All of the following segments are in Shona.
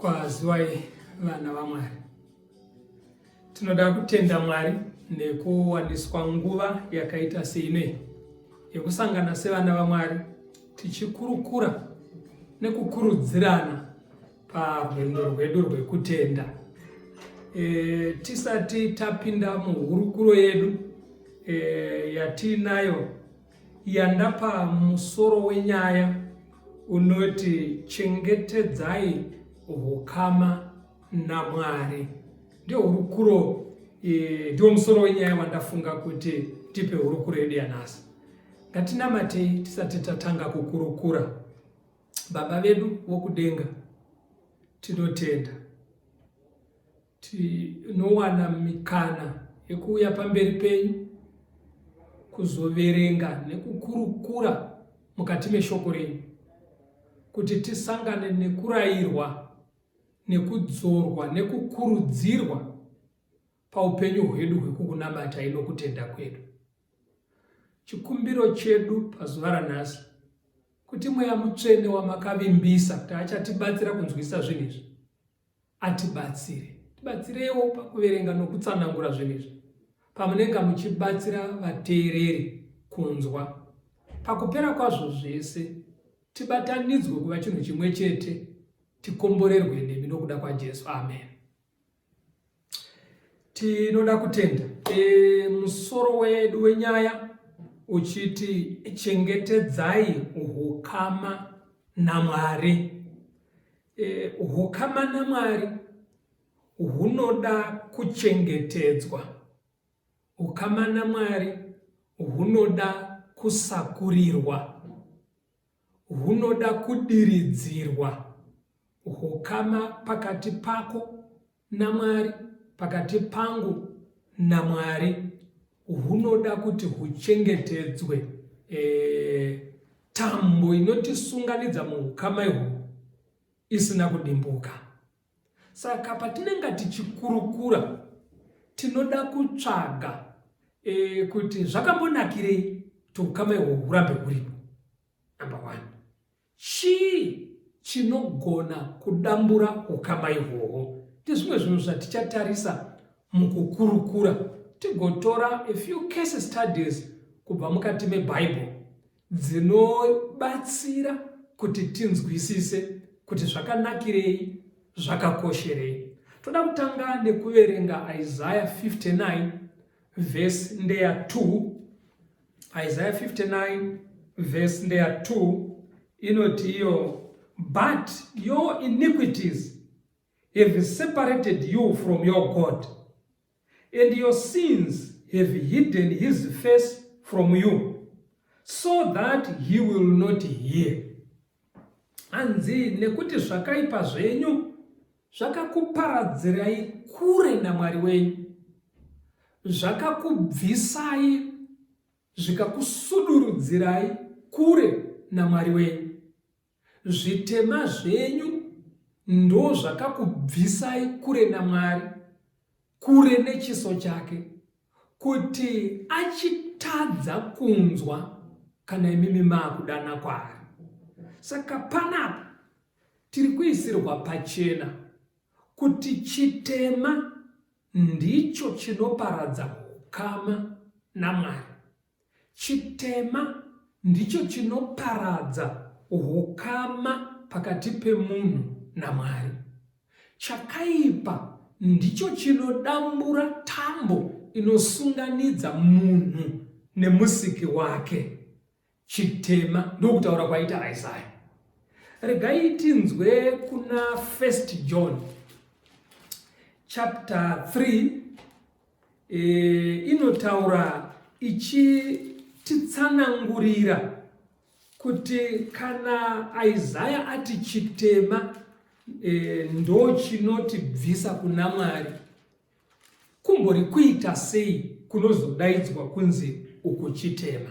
kwaziwai vana vamwari tinoda kutenda mwari nekuwaniswa nguva yakaita seinei yekusangana sevana vamwari tichikurukura nekukurudzirana parwendo rwedu rwekutenda e, tisati tapinda muhurukuro yedu e, yatiinayo yandapa musoro wenyaya unoti chengetedzai ukama namwari ndiyo hurukuro e, ndiwo musoro wenyaya wandafunga kuti tipe hurukuro yedu yanhasi ngatinamatei tisati tatanga kukurukura Baba vedu vokudenga, tinotenda tinowana mikana yekuuya pamberi penyu kuzoverenga nekukurukura mukati meshoko renyu kuti tisangane nekurayirwa nekudzorwa nekukurudzirwa paupenyu hwedu hwekukunamata inokutenda kwedu Chikumbiro chedu pazuva ranhasi kuti mweya mutsvene wamakavimbisa kuti achatibatsira kunzwisisa zvinhu izvi atibatsire tibatsireiwo pakuverenga nokutsanangura zvinhu izvi pamunenge muchibatsira vateereri kunzwa pakupera kwazvo zvese tibatanidzwe kuva chinhu chimwe chete tikomborerwe nemi nokuda kwajesu amen Tinoda kutenda e, musoro wedu wenyaya uchiti chengetedzai ukama naMwari. E, ukama naMwari hunoda kuchengetedzwa. Ukama naMwari hunoda kusakurirwa. hunoda kudiridzirwa hukama pakati pako naMwari, pakati pangu naMwari hunoda kuti huchengetedzwe. E, tambo inotisunganidza muukama ihwo isina kudimbuka. Saka patinenge tichikurukura tinoda kutsvaga e, kuti zvakambonakirei kuti ukama ihwo hurambe huripo. Number one, chii chinogona kudambura ukama ihwohwo? Ndizvimwe zvinhu zvatichatarisa mukukurukura tigotora a few case studies kubva mukati mebhaibheri dzinobatsira kuti tinzwisise kuti zvakanakirei zvakakosherei toda kutanga nekuverenga isaya 59 vhesi ndeya 2 isaya 59 vhesi ndeya 2 inoti iyo but your iniquities have separated you from your god and your sins have hidden his face from you so that he will not hear hanzi nekuti zvakaipa zvenyu zvakakuparadzirai kure namwari wenyu zvakakubvisai zvikakusudurudzirai kure namwari wenyu Zvitema zvenyu ndozvakakubvisai kure naMwari, kure nechiso chake, kuti achitadza kunzwa kana imimi maakudana kwaari. Saka panapa tiri kuisirwa pachena kuti chitema ndicho chinoparadza ukama naMwari. Chitema ndicho chinoparadza hukama pakati pemunhu naMwari. Chakaipa ndicho chinodambura tambo inosunganidza munhu nemusiki wake. Chitema ndokutaura kwaita Isaya. Regai tinzwe kuna 1 John chapter 3 e, inotaura ichititsanangurira kuti kana Isaya ati chitema e, ndochinotibvisa kuna Mwari kumbori kuita sei kunozodaidzwa kunzi uku chitema.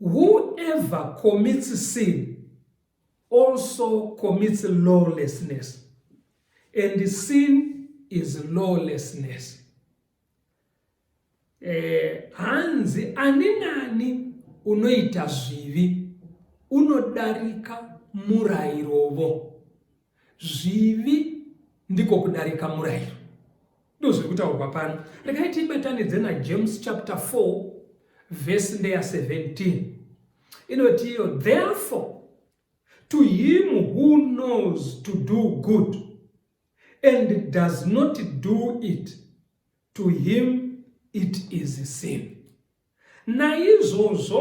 Whoever commits sin also commits lawlessness, and sin is lawlessness. Eh, hanzi ani nani unoita zvivi unodarika murayirovo Zvivi ndiko kudarika murayiro. Ndozviri kutaurwa pano. Regai tibatanidze naJames chapter 4 verse ndeya 17. Inoti iyo therefore to him who knows to do good and does not do it to him it is sin. Naizvozvo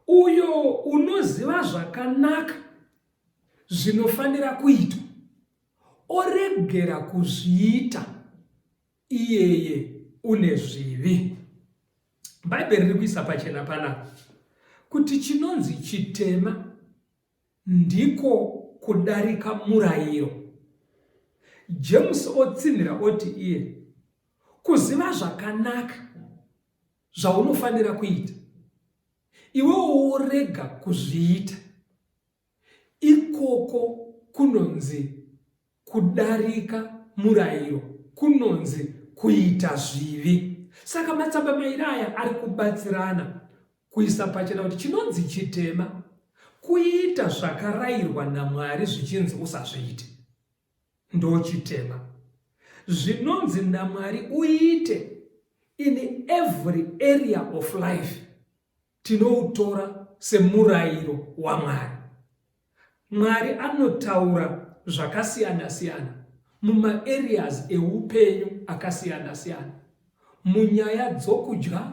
uyo unoziva zvakanaka zvinofanira kuitwa oregera kuzviita iyeye une zvivi. Bhaibheri riri kuisa pachena panapa kuti chinonzi chitema Ndiko kudarika murayiro. Jemusi otsinhira oti iye, Kuziva zvakanaka zvaunofanira kuita, iwewo worega kuzviita, ikoko kunonzi Kudarika murayiro kunonzi kuita zvivi. Saka matsamba mairi aya ari kubatsirana kuisa pachena kuti chinonzi chitema kuita zvakarayirwa naMwari zvichinzi usazviite ndochitema. Zvinonzi naMwari uite in every area of life tinoutora semurayiro waMwari. Mwari anotaura zvakasiyana siyana mumaareas eupenyu akasiyana siyana, munyaya dzokudya,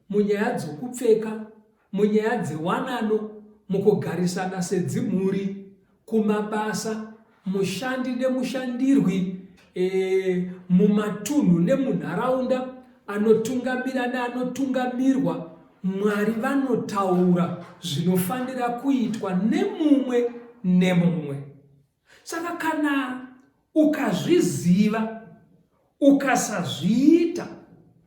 munyaya dzokupfeka, munyaya dzewanano, mukugarisana sedzimhuri, kumabasa, mushandi nemushandirwi e, mumatunhu nemunharaunda anotungamira neanotungamirwa Mwari vanotaura zvinofanira kuitwa nemumwe nemumwe. Saka kana Ukazviziva ukasazviita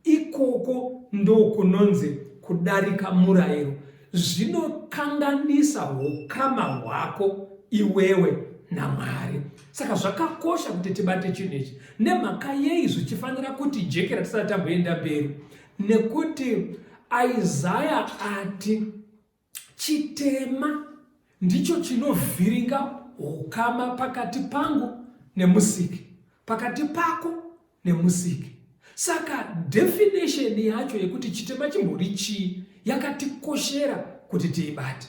ikoko ndokunonzi kudarika murayiro zvinokanganisa ukama hwako iwewe namwari saka zvakakosha kuti tibate chinhu ichi nemhaka yei zvichifanira kuti jekera tisati tamboenda mberi nekuti isaya ati Chitema ndicho chinovhiringa ukama pakati pangu nemusiki, pakati pako nemusiki. Saka definition yacho yekuti chitema chimbori chii yakatikoshera kuti tiibate.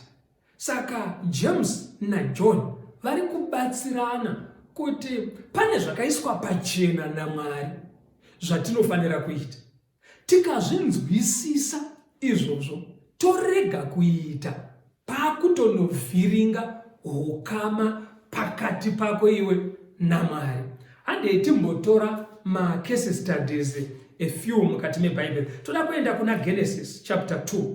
Saka James naJohn vari kubatsirana kuti pane zvakaiswa pachena naMwari zvatinofanira kuita. Tikazvinzwisisa izvozvo torega kuita pakutonovhiringa ukama pakati pako iwe naMwari. Handei timbotora macase studies a few mukati mebhaibheri toda kuenda kuna genesis chapter 2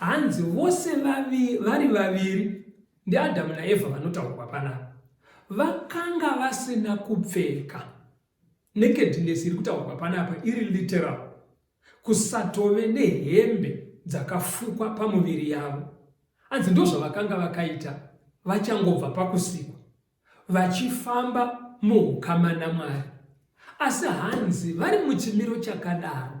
Hanzi vose vavi, vari vaviri ndiAdhamu naEvha vanotaurwa panapa vakanga vasina kupfeka. Nakedness iri kutaurwa panapa iri literal, kusatove nehembe dzakafukwa pamuviri yavo. Hanzi ndozvavakanga vakaita vachangobva pakusikwa vachifamba muukama naMwari. Asi hanzi vari muchimiro chakadaro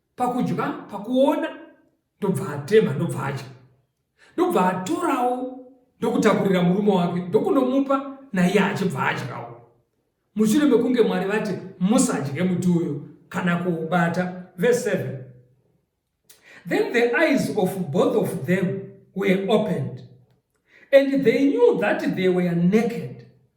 pakudya pakuona ndobva atema ndobva adya ndobva atorawo ndokutakurira murume wake ndokunomupa naiye achibva adyawo mushure mekunge mwari vati musadye muti uyo kana kuubata verse 7 then the eyes of both of them were opened and they knew that they were naked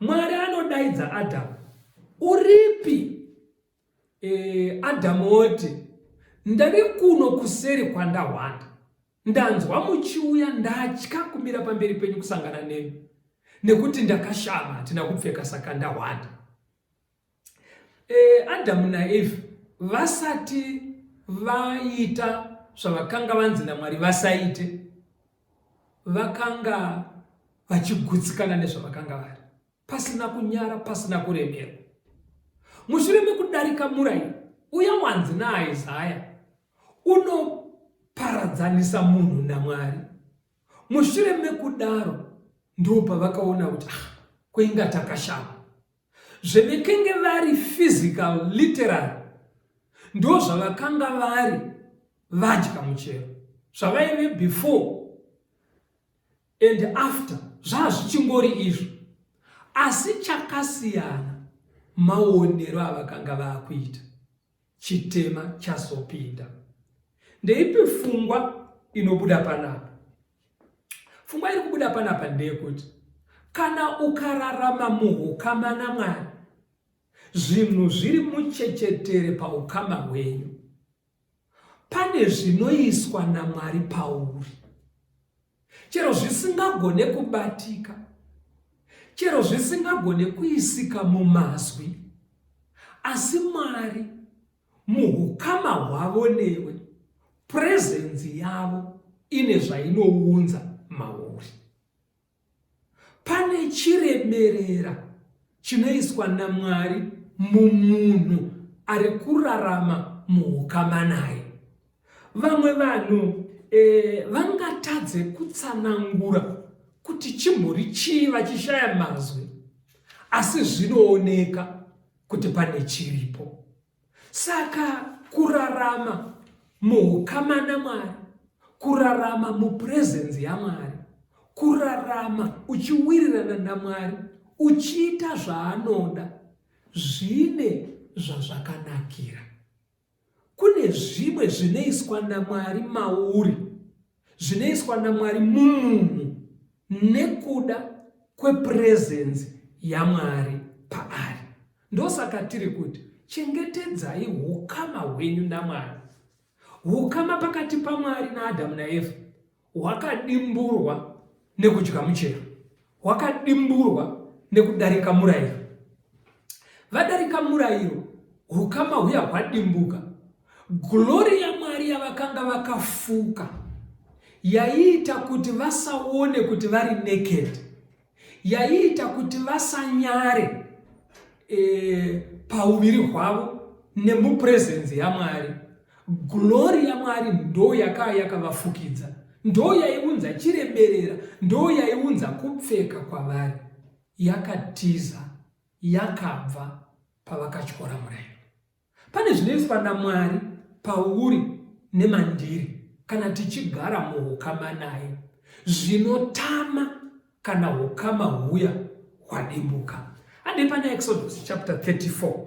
Mwari anodaidza Adamu, uripi? E, Adamu oti, ndave kuno kuseri kwandahwanda, ndanzwa muchiuya, ndatya kumira pamberi penyu kusangana nemi, nekuti ndakashama, hatina kupfeka, saka ndahwanda. E, Adamu naEvha vasati vaita zvavakanga vanzi naMwari vasaite, vakanga vachigutsikana nezvavakanga vari pasina kunyara pasina kuremera mushure mekudarika murai uya wanzi naaisaya unoparadzanisa munhu namwari mushure mekudaro ndopavakaona kuti ah, kweinga takashama Zvevekenge vari physical literary ndo zvavakanga vari vadya muchero zvavaive before and after zvazvichingori izvo asi chakasiyana maonero avakanga vakuita chitema chazopinda. Ndeipi fungwa inobuda panapa? Fungwa iri kubuda panapa ndeyekuti kana ukararama muukama naMwari, zvinhu zviri muchechetere paukama hwenyu, pane zvinoiswa naMwari pauri. chero zvisingagone kubatika, chero zvisingagone kuisika mumazwi, asi Mwari muhukama hwavo newe, purezenzi yavo ine zvainounza mauri. Pane chireberera chinoiswa naMwari mumunhu ari kurarama muukama naye. Vamwe vanhu e, vangatadze kutsanangura kuti chimhuri chii vachishaya mazwi, asi zvinooneka kuti pane chiripo. Saka kurarama muhukama naMwari, kurarama mupurezenzi yaMwari, kurarama uchiwirirana naMwari, uchiita zvaanoda, zvine zvazvakanakira. Kune zvimwe zvinoiswa naMwari mauri. zvinoiswa naMwari mumunhu nekuda kwepurezenzi yaMwari paari. Ndosaka tiri kuti chengetedzai ukama hwenyu naMwari. Ukama pakati paMwari naAdhamu naEvha hwakadimburwa nekudya muchero. hwakadimburwa nekudarika murayiro. Vadarika murayiro, hukama huya hwadimbuka. Glori yaMwari yavakanga vakafuka yaiita kuti vasaone kuti vari naked, yaiita kuti vasanyare e, pauviri hwavo nemupresence yaMwari. Glori yaMwari ndo yakaa yakavafukidza, ndo yaiunza chireberera, ndo yaiunza kupfeka kwavari. Yakatiza, yakabva pavakatyora murayiro. Pane zvinoiswa naMwari pauri nemandiri kana tichigara muukama naye, zvinotama kana ukama huya hwadimbuka. Hande pana Exodus chapter 34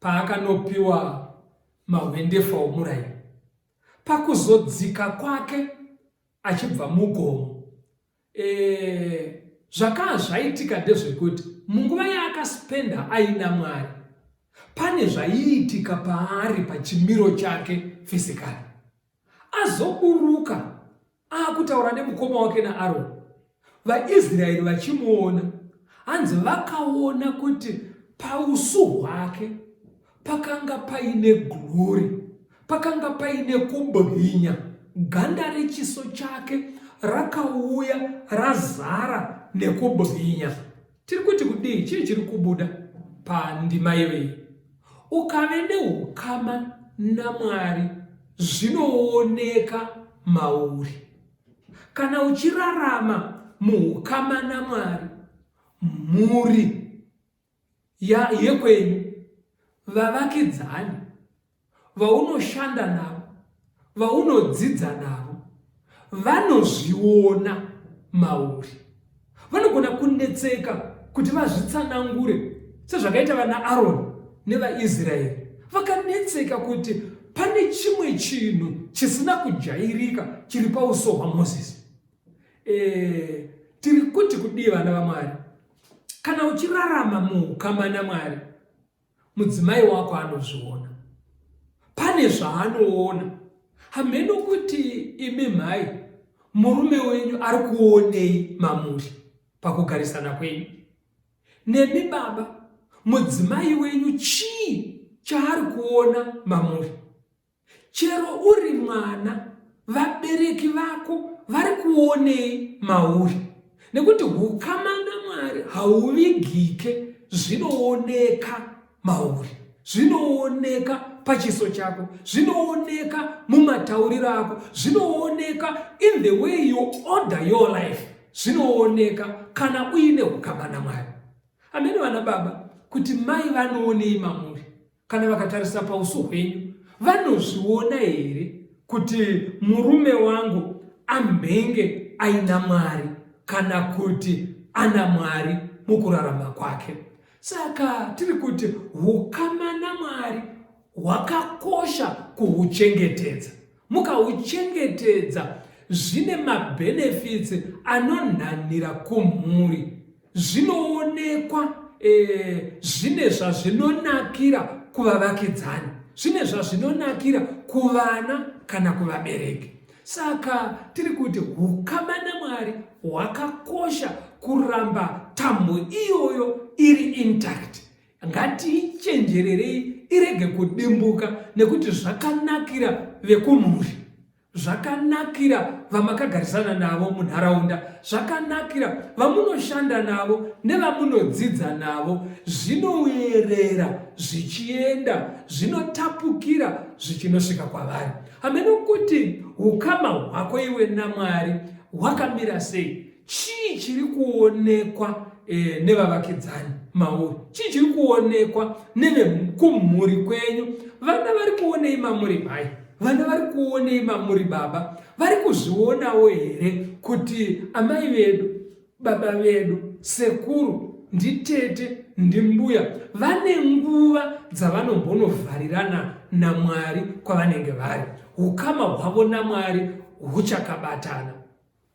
Paakanopiwa mahwendefa omuraini, pakuzodzika kwake achibva mugomo, e, zvakaa zvaitika ndezvekuti munguva yaakaspenda aina Mwari, pane zvaiitika paari pachimiro chake fizikali. Azoburuka akutaura nemukoma wake naAroni, vaIsraeri vachimuona, hanzi vakaona kuti pausu hwake pakanga paine glori, pakanga paine kubwinya, ganda rechiso chake rakauya razara nekubwinya. Tiri kuti kudii? Chii chiri kubuda pandima yevei? Ukave neukama naMwari zvinooneka mauri. Kana uchirarama muukama naMwari, mhuri yekwenyu, vavakidzani, vaunoshanda navo, vaunodzidza navo vanozviona mauri. Vanogona kunetseka kuti vazvitsanangure sezvakaita vana Aroni nevaIsraeri vakanetseka kuti pane chimwe chinhu chisina kujairika chiri pauso hwamozisi e, tiri kuti kudii vana vamwari kana uchirarama muukama namwari mudzimai wako anozviona pane zvaanoona hameno kuti imi mhai murume wenyu ari kuonei mamuri pakugarisana kwenyu nemi baba mudzimai wenyu chii chaari kuona mamuri Chero uri mwana vabereki vako vari kuonei mauri nekuti ukama namwari hauvigike zvinooneka mauri zvinooneka pachiso chako zvinooneka mumatauriro ako zvinooneka in the way you order your life zvinooneka kana uine ukama namwari amene vana baba kuti mai vanoonei mamuri Kana vakatarisa pauso hwenyu vanozviona here kuti murume wangu amhenge aina mwari kana kuti ana mwari mukurarama kwake saka tiri kuti ukama namwari hwakakosha kuhuchengetedza Mukauchengetedza zvine mabenefits anonhanhira kumhuri zvinoonekwa e, zvine zvazvinonakira kuvavakidzani zvine zvazvinonakira kuvana kana kuvabereki saka tiri kuti ukama namwari hwakakosha kuramba tambo iyoyo iri intact Ngatiichenjererei irege kudimbuka nekuti zvakanakira vekumhuri zvakanakira vamakagarisana navo munharaunda zvakanakira vamunoshanda navo nevamunodzidza navo zvinoerera zvichienda zvinotapukira zvichinosvika kwavari hameno kuti ukama hwako iwe namwari hwakamira sei chii chiri kuonekwa e, nevavakidzani mauri chii chiri kuonekwa nevekumhuri kwenyu vana vari kuonei mamuri mai vana vari kuonei mamuri baba vari kuzvionawo here kuti amai vedu baba vedu sekuru nditete ndimbuya vane nguva dzavanombonovharirana namwari kwavanenge vari ukama hwavo namwari huchakabatana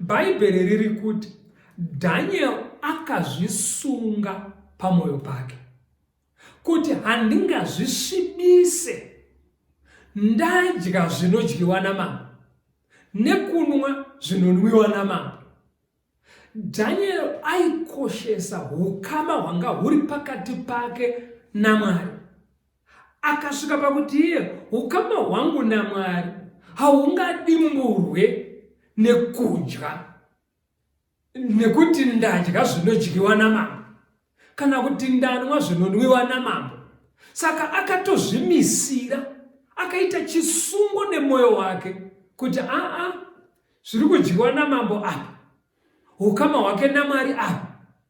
Bhaibheri riri kuti Daniel akazvisunga pamwoyo pake kuti handingazvisvibise ndadya zvinodyiwa namambo nekunwa zvinonwiwa namambo daniel aikoshesa ukama hwanga huri pakati pake namwari akasvika pakuti iye ukama hwangu namwari haungadimburwe nekudya nekuti ndadya zvinodyiwa namambo kana kuti ndanwa zvinonwiwa namambo saka akatozvimisira akaita chisungo nemwoyo wake kuti aa zviri kudyiwa namambo apa ukama hwake namwari apa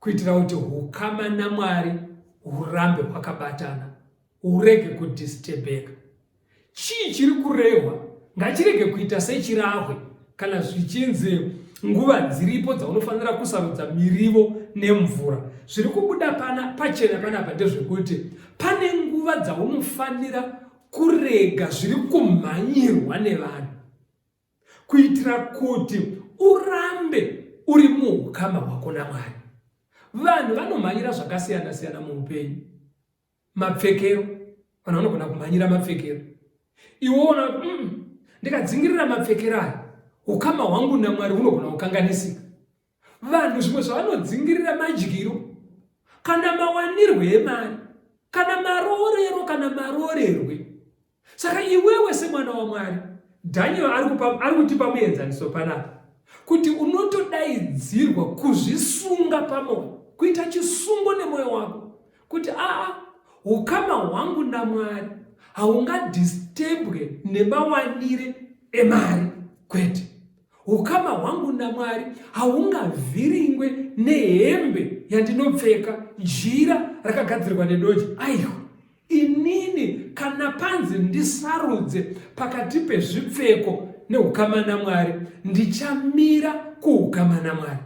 kuitira kuti ukama naMwari urambe hwakabatana urege kudistebheka. Chii chiri kurehwa ngachirege kuita sechirahwe kana zvichinzi nguva dziripo dzaunofanira kusarudza mirivo nemvura. Zviri kubuda pana pachena panapa ndezvekuti pane nguva dzaunofanira kurega zviri kumhanyirwa nevanhu. kuitira kuti urambe uri muukama hwako namwari vanhu vanomhanyira zvakasiyana siyana muupenyu mapfekero vanhu vanogona kumhanyira mapfekero iwoona kuti mm, ndikadzingirira mapfekero aya ukama hwangu namwari hunogona kukanganisika vanhu zvimwe zvavanodzingirira madyiro kana mawanirwe emari kana maroorero kana maroorerwe saka iwewe semwana wamwari dhaniel ari kutipa muenzaniso panapa kuti unotodaidzirwa kuzvisunga pamwoyo kuita chisungo nemwoyo wako kuti aa ukama hwangu namwari haungadistebwe nemawanire emari kwete Ukama hwangu naMwari haungavhiringwe nehembe yandinopfeka, jira rakagadzirwa nedoji. Aiwa, inini kana panzi ndisarudze pakati pezvipfeko neukama naMwari, ndichamira kuukama naMwari.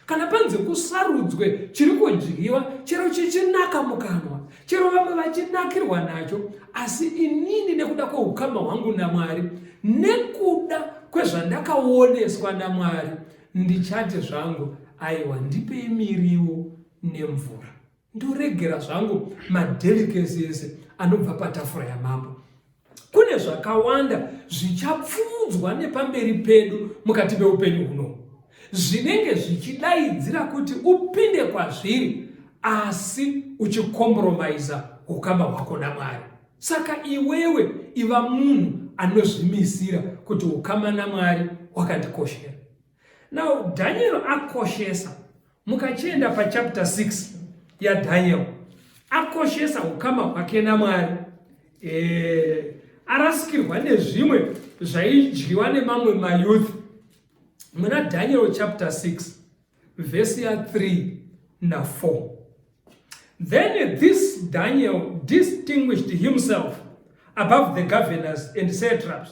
kana panzi kusarudzwe chiri kudyiwa chero chichinaka mukanwa chero vamwe vachinakirwa nacho asi inini nekuda kweukama hwangu namwari nekuda kwezvandakaoneswa namwari ndichati zvangu aiwa ndipei miriwo nemvura ndoregera zvangu madelikesi ese anobva patafura yamambo kune zvakawanda zvichapfuudzwa nepamberi pedu mukati meupenyu huno zvinenge zvichidaidzira kuti upinde kwazviri asi uchikompromiza ukama hwako namwari saka iwewe iva munhu anozvimisira kuti ukama namwari wakandikoshera Now Daniel akoshesa mukachienda pachapter 6 yaDaniel akoshesa ukama hwake naMwari eh, arasikirwa nezvimwe zvaidyiwa nemamwe mayouth muna Daniel chapter 6 verse ya 3 na 4 Then this Daniel distinguished himself above the governors and satraps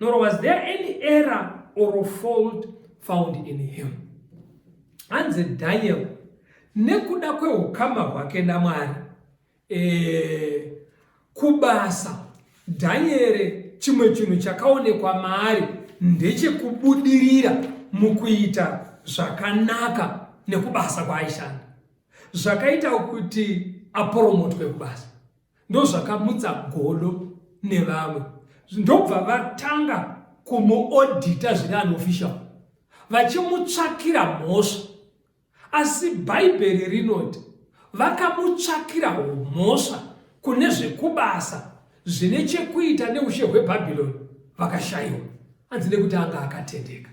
nor was there any error or fault found in him hanzi daniel nekuda kweukama hwake namwari e, kubasa dhanyere chimwe chinhu chakaonekwa maari ndechekubudirira mukuita zvakanaka nekubasa kwaaishanda zvakaita kuti aporomothwe kubasa ndozvakamutsa godo nevamwe ndobva vatanga kumuodhita zviri unofficial vachimutsvakira mhosva asi bhaibheri rinoti vakamutsvakira mhosva kune zvekubasa zvine chekuita neushe hwebhabhironi vakashayiwa hanzi nekuti anga akatendeka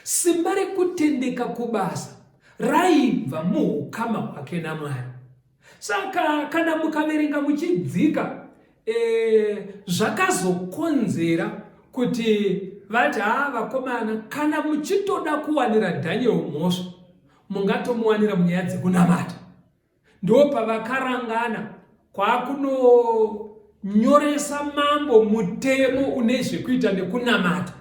simba rekutendeka kubasa raibva muukama hwake namwari Saka kana mukaverenga muchidzika e, zvakazokonzera kuti vati haa vakomana kana muchitoda kuwanira Daniel mhosva mungatomuwanira munyaya dzekunamata ndo pavakarangana kwakunonyoresa mambo mutemo une zvekuita nekunamata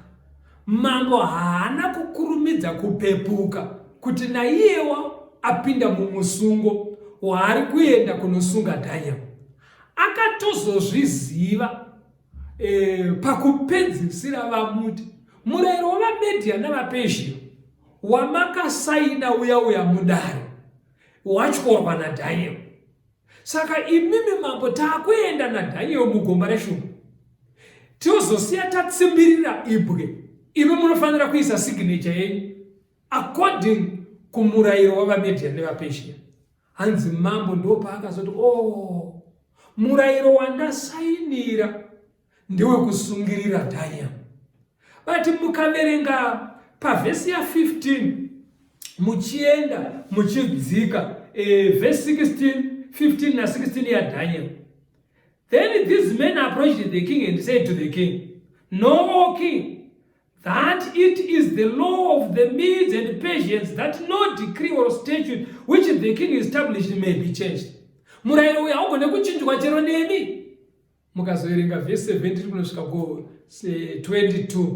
Mambo haana kukurumidza kupepuka kuti naiyewa apinda mumusungo waari kuenda kunosunga Daniel. Akatozozviziva e, pakupedzisira vamuti murayiro wavamedia navapersia wamakasaina uya uya mudare watyorwa nadaniel Saka imimi mambo taakuenda naDaniel mugomba reshumba tozosiya tatsimbirira ibwe imi munofanira kuisa signature yenyu according kumurayiro wavamedia nevapesia hanzi mambo ndopaakazoti o oh, murayiro wandasainira ndewe kusungirira dhaya but mukaverenga pavhesi ya 15 muchienda muchidzika e, vhesi 16 15 na 16 ya daniel then these men approached the king and said to the king no king that it is the law of the medes and persians that no decree or statute which the king established may be changed murayiro uyu haugone kuchinjwa chero nemi mukazoverenga vhesi 17 kunosvika ku 22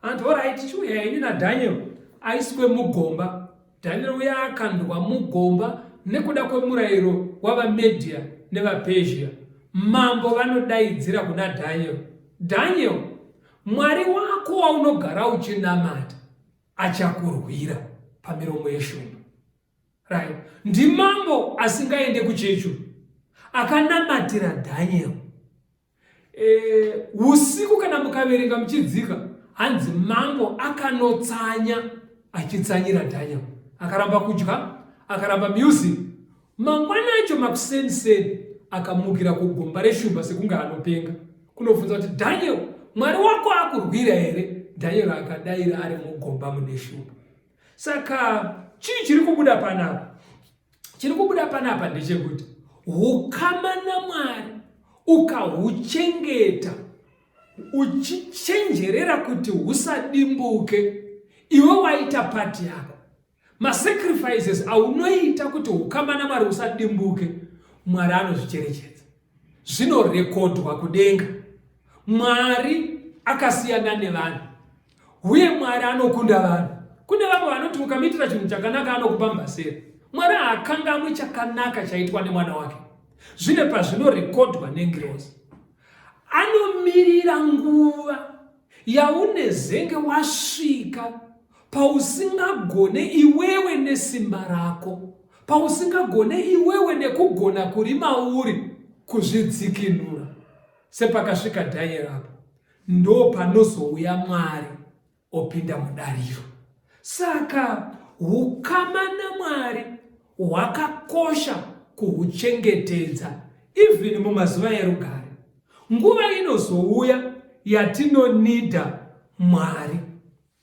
anti orit chiuya ini nadaniel aiswe mugomba daniel uya akandwa mugomba nekuda kwemurayiro wavamedia nevapersia mambo vanodaidzira kuna daniel daniel mwari wako waunogara uchinamata achakurwira pamiromo yeshumba Right. Ndimambo asingaende kuchechu akanamatira Daniel. Eh, usiku kana mukaverenga muchidzika hanzi mambo akanotsanya achitsanyira Daniel. Akaramba kudya, akaramba music. Mangwana acho makuseni seni akamukira kugomba reshumba sekunge anopenga. Kunobvunza kuti Daniel, Mwari wako akurwira here? Daniel akadaira ari mugomba mune shumba. Saka chii chiri kubuda panapa? Chiri kubuda panapa ndechekuti ukama naMwari ukahuchengeta uchichenjerera kuti husadimbuke, iwe waita pati yako. Masacrifices aunoita kuti ukama naMwari usadimbuke, Mwari anozvicherechedza, zvinorekodhwa kudenga. Mwari akasiyana nevanhu. Uye Mwari anokunda vanhu. Kune vamwe vanoti ukamuitira chinhu chakanaka anokupa mbasera. Mwari haakangamwi chakanaka chaitwa nemwana wake, zvine pazvinorekodwa nengirozi. Anomirira nguva yaunezenge wasvika pausingagone iwewe nesimba rako, pausingagone iwewe nekugona kuri mauri kuzvidzikinura, sepakasvika Dhanieri apo. ndopanozouya Mwari opinda mudariro. Saka hukama naMwari hwakakosha kuhuchengetedza even mumazuva erugare. Nguva inozouya yatinonida Mwari.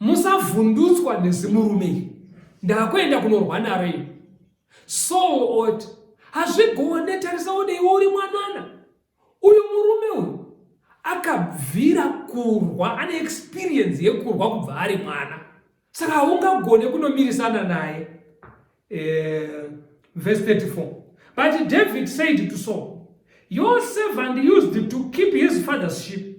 musavhundutswa nezimurume iri ndakuenda kunorwa naro iri so ot hazvigone tarisa one iwe uri mwanana uyu murume uyu akabvira kurwa ane experience yekurwa kubva ari mwana saka haungagone kunomirisana naye eh, verse 34 but david said to saul your servant used to keep his father's sheep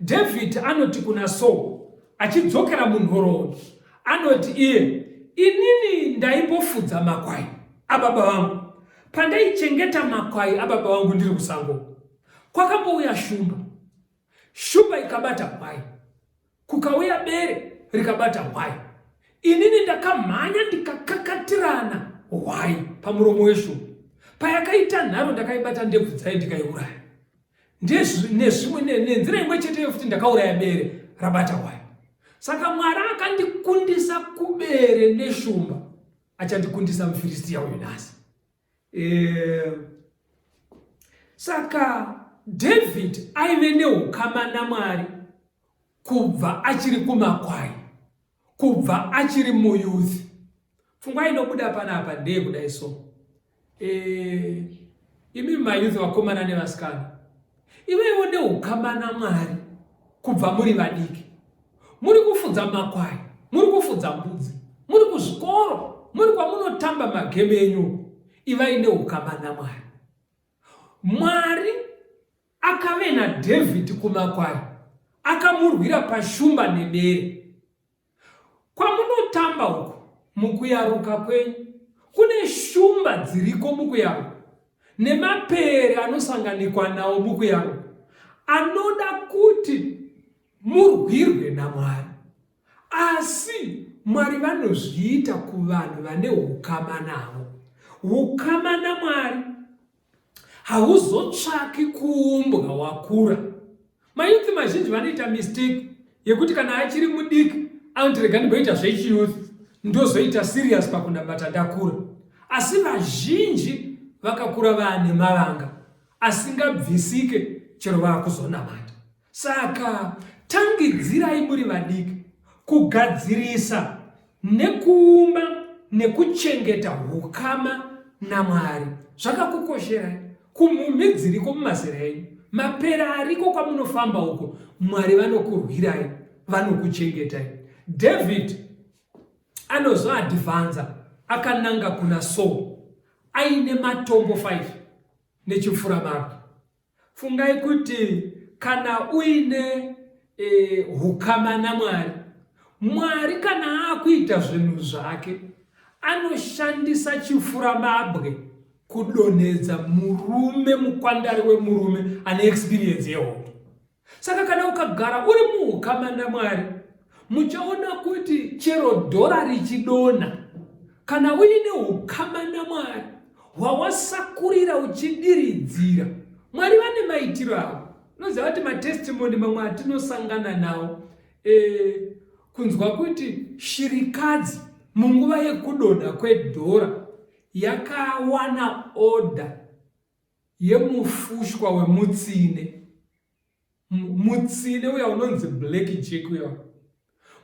Dhavhidhi anoti kuna Saul achidzokera munhoroondo, anoti iye, Inini ndaipofudza makwai ababa vangu. Pandaichengeta makwai ababa vangu ndiri kusango, kwakambouya shumba. Shumba ikabata kwai, kukauya bere rikabata hwai. Inini ndakamhanya ndikakakatirana hwai pamuromo weshumba. Payakaita nharo ndakaibata ndebvu dzayo ndikaiuraya. nezvimwe nenzira imwe cheteyo futi ndakauraya bere rabata hwaya saka mwari akandikundisa kubere neshumba achandikundisa mufiristiya uyu nhasi eh, saka david aive neukama namwari kubva achiri kumakwai kubva achiri muyouth pfungwa inobuda panapa ndeye kudai so e, imi mayouth vakomana nevasikana ivevo neukama namwari kubva muri vadiki muri kufudza makwai muri kufudza mbudzi muri kuzvikoro muri kwamunotamba mageme enyu ivai neukama namwari mwari Akave naDhavhidhi kumakwai, akamurwira pashumba nebere. Kwamunotamba uko mukuyaruka kwenyu kune shumba dziriko mukuyaruka nemapere anosanganikwa nawo mukuyaruka anoda kuti murwirwe namwari asi mwari vanozviita kuvanhu vane ukama navo ukama namwari hauzotsvaki kuumbwa wakura mayouth mazhinji vanoita mistake yekuti kana achiri mudiki anoti rega ndimboita zvechiyouth ndozoita serious pakunamata ndakura asi vazhinji vakakura vaane mavanga asingabvisike chero vaakuzonamata Saka tangidzirai muri vadiki kugadzirisa nekuumba nekuchengeta ukama naMwari. Zvakakukosherai kumhumhi dziriko mumazera enyu, mapera ariko kwamunofamba uko, Mwari vanokurwirai, vanokuchengetai. David anozoadhivanza akananga kuna Saul aine matombo 5 nechipfuramabwe. Fungai kuti kana uine e, hukama naMwari, Mwari kana akuita zvinhu zvake anoshandisa chifuramabwe kudonhedza murume mukwandari wemurume ane experience yehondo Saka kana ukagara uri muukama naMwari, muchaona kuti chero dhora richidonha, kana uine ukama naMwari hwawasakurira uchidiridzira, Mwari vane maitiro avo. Unoziva kuti matestimoni mamwe atinosangana nawo e, kunzwa kuti shirikadzi munguva yekudonha kwedhora yakawana oda yemufushwa wemutsine mutsine uya unonzi black jack uya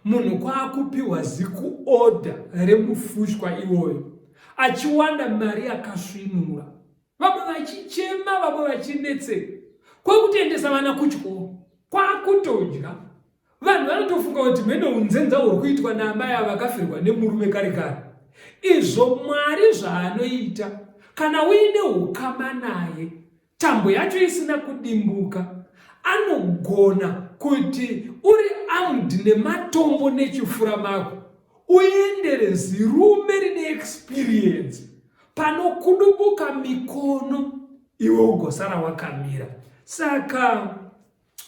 munhu kwaakupiwa zikuoda remufushwa iwoyo achiwana mari yakasvinura vamwe vachichema vamwe vachinetseka kwekutendesa vana kuchikoro kwakutodya Vanhu vanotofunga kuti mhene unzenza huri kuitwa naamai ava vakafirwa nemurume kare kare. Izvo Mwari zvaanoita kana uine ukama naye tambo yacho isina kudimbuka anogona kuti uri amd nematombo nechifura mako uendere zirume rine experience panokudubuka mikono iwe ugosara wakamira saka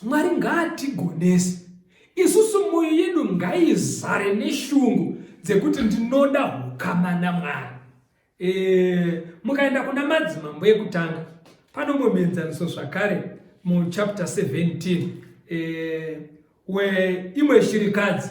Mwari ngaatigonese isusu mwoyo yedu ngaizare neshungu dzekuti ndinoda hukama namwari e, mukaenda kuna madzimambo ekutanga panomwe muenzaniso zvakare muchapter 17 e, weimwe shirikadzi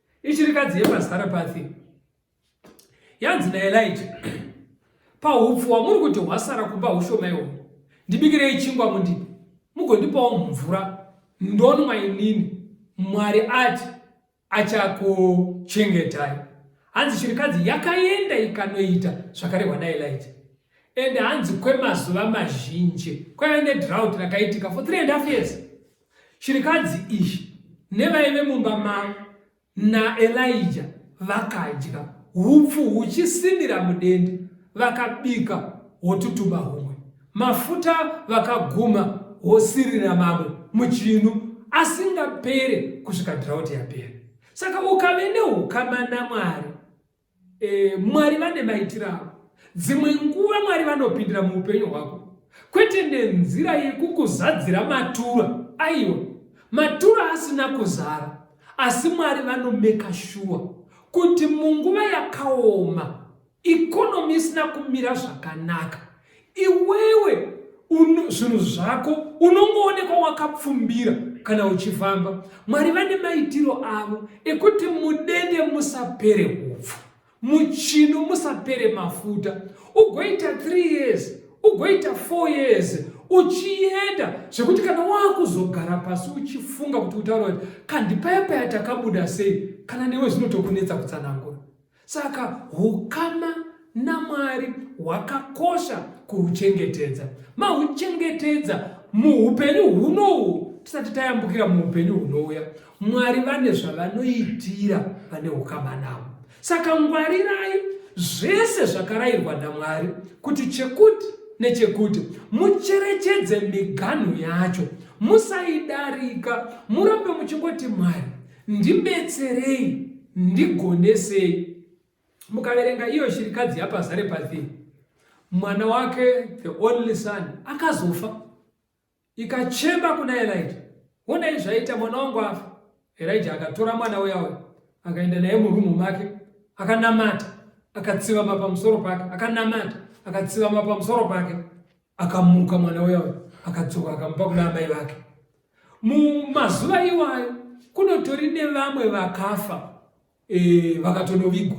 Ishirikadzi yepaZarepatha yanzi naElija, Pahupfu hwamuri kuti hwasara kumba hushoma ihwo, ndibikirei chingwa mundipe, mugondipawo mvura ndonwa inini. Mwari ati achakuchengetai. Hanzi shirikadzi yakaenda ikanoita zvakarehwa naElija and hanzi kwemazuva mazhinji kwaiva nedrought rakaitika for three and half years Chirikadzi iyi nevaive mumba mai naElija vakadya hupfu huchisimira mudende, vakabika hwotutumba humwe, mafuta vakaguma hwosirira mamwe muchinu asingapere kusvika drought yapera. Saka ukave neukama naMwari E, Mwari vane maitiro avo. Dzimwe nguva Mwari vanopindira muupenyu hwako kwete nenzira yekukuzadzira matura aiwa matura asina kuzara asi mwari vanomeka shuwa kuti munguva yakaoma ikonomi isina kumira zvakanaka Iwewe zvinhu zvako unongoonekwa wakapfumbira kana uchifamba. Mwari vane maitiro avo ekuti mudende musapere hupfu, muchino musapere mafuta, ugoita 3 years ugoita 4 years uchienda zvekuti kana wakuzogara pasi uchifunga kuti utaura kuti kandipaya paya takabuda sei, kana newe zvinotokunetsa kutsanangura. Saka hukama naMwari hwakakosha kuhuchengetedza. Mahuchengetedza muupenyu hunohu tisati tayambukira muupenyu hunouya. Mwari vane zvavanoitira vane hukama navo. Saka ngwarirai zvese zvakarayirwa naMwari kuti chekuti nechekuti mucherechedze miganhu yacho musaidarika murambe muchingoti mwari Ndibetserei, ndigonesei. Mukaverenga iyo shirikadzi yapaZarepathi, mwana wake the only son akazofa, ikachema kuna Elijah, honai zvaita mwana wangu afa. Elijah akatora mwana uya uya akaenda naye murumu make, akanamata, akatsivama pamusoro pake, akanamata, akatsivama pamusoro pake. Akamuka mwana uya uya akadzoka akamupa kuna amai vake. Mumazuva iwayo kunotori nevamwe vakafa e, vakatonovigwa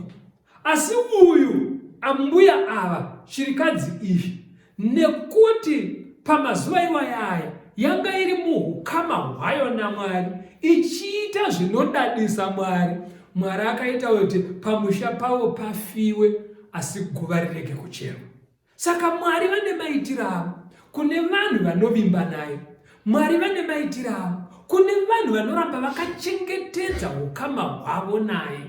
asi uyu ambuya ava shirikadzi izvi nekuti pamazuva iwayaya yanga iri muukama hwayo namwari ichiita zvinodadisa mwari mwari akaita kuti pamusha pavo pafiwe asi guva rirege kucherwa Saka Mwari vane maitiro avo kune vanhu vanovimba naye. Mwari vane maitiro avo kune vanhu vanoramba vakachengetedza ukama hwavo naye,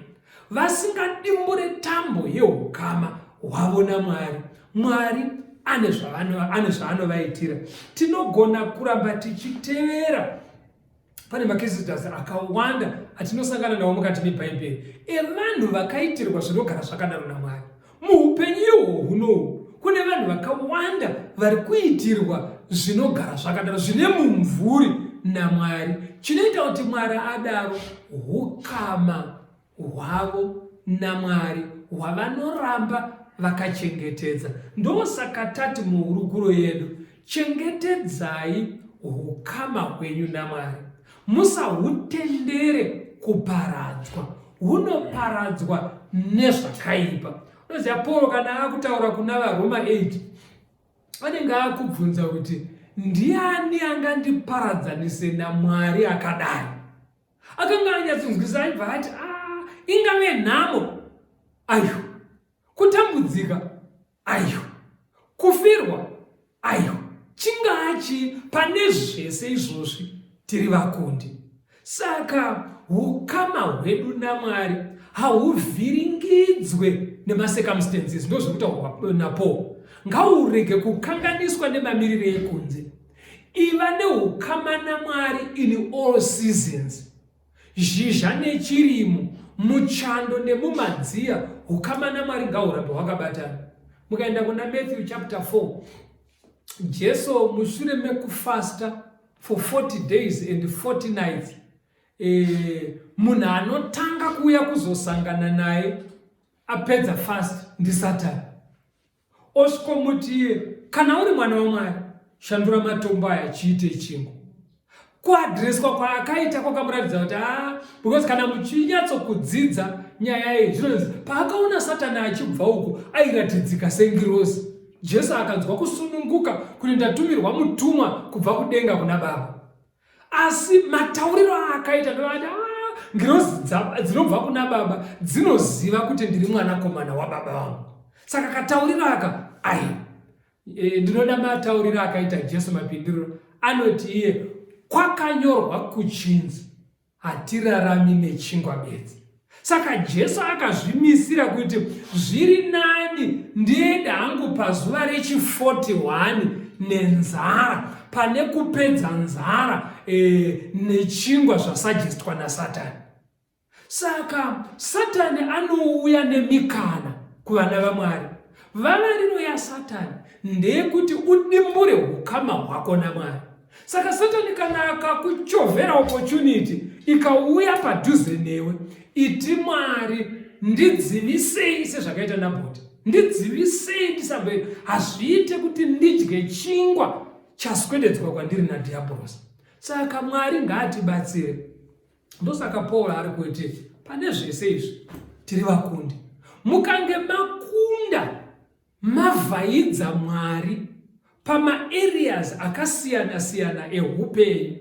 vasingadimbure tambo yeukama hwavo naMwari. Mwari ane zvaanovaitira. Tinogona kuramba tichitevera pane makezitas akawanda atinosangana nawo mukati mebhaibheri evanhu vakaitirwa zvinogara zvakadaro namwari muupenyu ihwo hunohu kune vanhu vakawanda vari kuitirwa zvinogara zvakadaro zvine mumvuri namwari chinoita kuti mwari adaro hukama hwavo naMwari hwavanoramba vakachengetedza. Ndosaka tati muhurukuro yedu, chengetedzai hukama hwenyu naMwari, musahutendere kuparadzwa, hunoparadzwa nezvakaipa. Unoziva Pauro kana akutaura kuna vaRoma 8 anenge akubvunza kuti ndiani angandiparadzanise naMwari akadai? akanga anyatsonzwisa aibva ati a ah, ingave nhamo ayo kutambudzika ayo kufirwa ayo chingachi pane zvese izvozvi tiri vakundi saka ukama hwedu namwari hauvhiringidzwe nemacircumstances ndozvekutaurwa napo ngaurege kukanganiswa nemamiriro ekunze iva neukama namwari in all seasons zhizha nechirimo muchando nemumadziya ukama namwari ngahurambe hwakabatana mukaenda kuna matthew chapter 4 jesu mushure mekufasta for 40 days and 40 nights eh, munhu anotanga kuuya kuzosangana naye apedza fast ndisatani Osvikomuti iye, Kana uri mwana waMwari, shandura matombo aya chiite chingwa. Kuadreswa kwaakaita kwakamuratidza kuti haa, because kana muchinyatsokudzidza nyaya iyi zvinonzi paakaona satani achibva uko airatidzika sengirozi jesu akanzwa kusununguka kuti ndatumirwa mutumwa kubva kudenga kuna baba asi matauriro aakaita ndoati ah, ngirozi dzinobva kuna baba dzinoziva kuti ndiri mwanakomana wababa vangu saka katauriro aka ai e, ndinoda matauriro akaita jesu mapindiro anoti iye kwakanyorwa kuchinzi Hatirarami nechingwa bedzi. Saka Jesu akazvimisira kuti zviri nani ndiende hangu pazuva rechi 41 nenzara pane kupedza nzara e, nechingwa zvasajestwa nasatani. Saka satani anouya nemikana kuvana vaMwari. Vavariro yasatani ndeyekuti udimbure ukama hwako naMwari. Saka Satani kana akakuchovhera opportunity ikauya padhuze newe, iti Mwari ndidzivisei sezvakaita Nabhoti, ndidzivisei ndisambe, hazviite kuti ndidye chingwa chaswededzwa kwandiri nadhiabhorosi. Saka Mwari ngaatibatsire. Ndosaka Paul ari kuti pane zvese izvi tiri vakundi. Mukange makunda Mavhaidza Mwari pamaareas akasiyana siyana ehupenyu.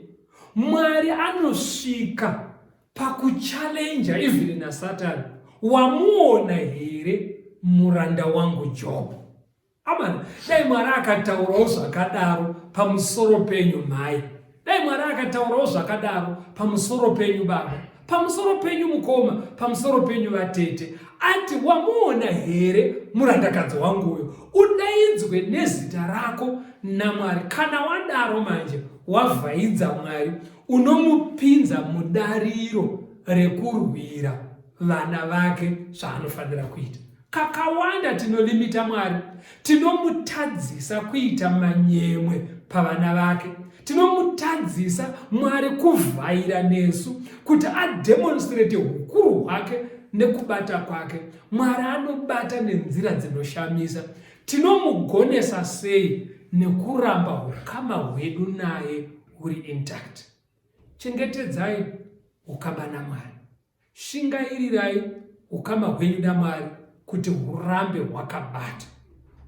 Mwari anosvika pakuchallenja even nasatani. Wamuona here muranda wangu Job? Amana, dai Mwari akataurawo zvakadaro pamusoro penyu mhai. Dai Mwari akataurawo zvakadaro pamusoro penyu baba, pamusoro penyu mukoma, pamusoro penyu vatete, ati wamuona here murandakadzi wangu uyo, udaidzwe nezita rako naMwari. Kana wadaro manje wavhaidza Mwari, unomupinza mudariro rekurwira vana vake zvaanofanira kuita. Kakawanda tinolimita Mwari, tinomutadzisa kuita manyemwe pavana vake. Tinomutadzisa Mwari kuvhaira nesu kuti ademonstrate ukuru hwake nekubata kwake. Mwari anobata nenzira dzinoshamisa. Tinomugonesa sei? Nekuramba ukama hwedu naye huri intact. Chengetedzai ukama naMwari. Shingairirai ukama hwenyu naMwari kuti hurambe hwakabata.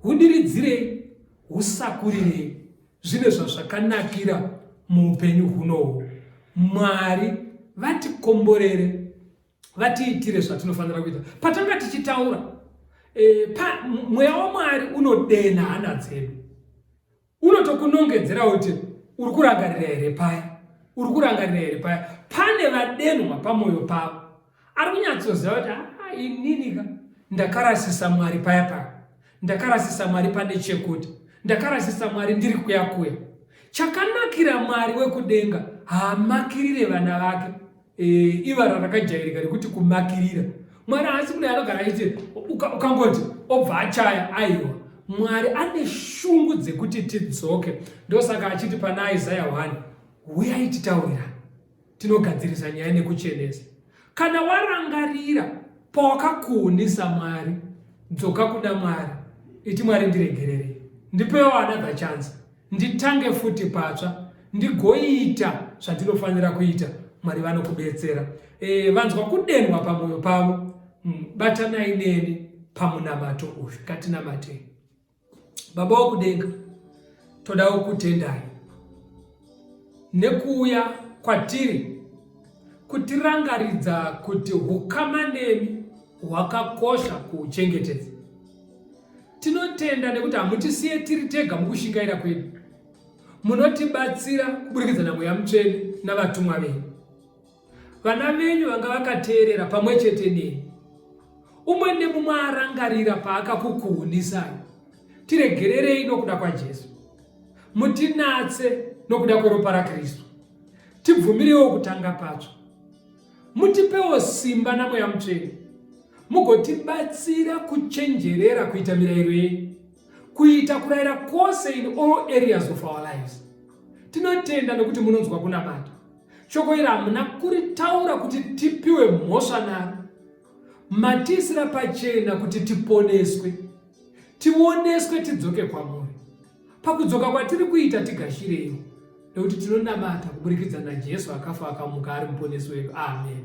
Hudiridzirei, husakurirei. Zvine zvazvakanakira muupenyu hunohu. Mwari vatikomborere vatiitire zvatinofanira kuita patanga tichitaura e, pa, mweya wamwari unodenha hana dzedu unotokunongedzera kuti uri kurangarira here paya uri kurangarira here paya pane vadenhwa pamwoyo pavo ari kunyatsoziva kuti haa ah, ininika ndakarasisa mwari paya paya ndakarasisa mwari pane chekuti ndakarasisa mwari ndiri kuya kuya chakanakira mwari wekudenga haamakirire vana vake Eh, ivara rakajairika rekuti kumakirira mwari haasi kudai anogara aite ukangoti obva achaya aiwa mwari ane shungu dzekuti tidzoke ndosaka achiti pana isaya 1 huyai titaurira tinogadzirisa nyaya nekuchenesa kana warangarira pawakakuunisa mwari dzoka kuna mwari iti mwari ndiregererei ndipewo another chance nditange futi patsva ndigoita zvandinofanira kuita mwari vanokubetsera e, vanzwa kudenwa pamwoyo pavo hmm, batanai neni pamunamato uyu ngatinamatei baba wokudenga todawo kutendai nekuuya kwatiri kutirangaridza kuti ukama nemi hwakakosha kuuchengetedza Tinotenda nekuti hamutisiye tiri tega mukushingaira kwedu. Munotibatsira kuburikidza naMweya Mutsvene navatumwa venyu. Vana venyu vanga vakateerera pamwe chete neni. Umwe nemumwe arangarira paakakukuhunisai. Tiregererei nokuda kwaJesu. Mutinatse nokuda kweropa raKristu. Tibvumirewo kutanga patsva. Mutipewo simba naMweya Mutsvene, mugotibatsira kuchenjerera kuita mirayiro yenyu, kuita kurayira kwose in all areas of our lives. Tinotenda nekuti munonzwa kunamata. Shoko iri hamuna kuritaura kuti tipiwe mhosva naro, matiisira pachena kuti tiponeswe, tioneswe tidzoke kwamuri. Pakudzoka kwatiri kuita tigashirewo, nekuti tinonamata kuburikidza naJesu akafa akamuka ari muponesi wedu. Ameni.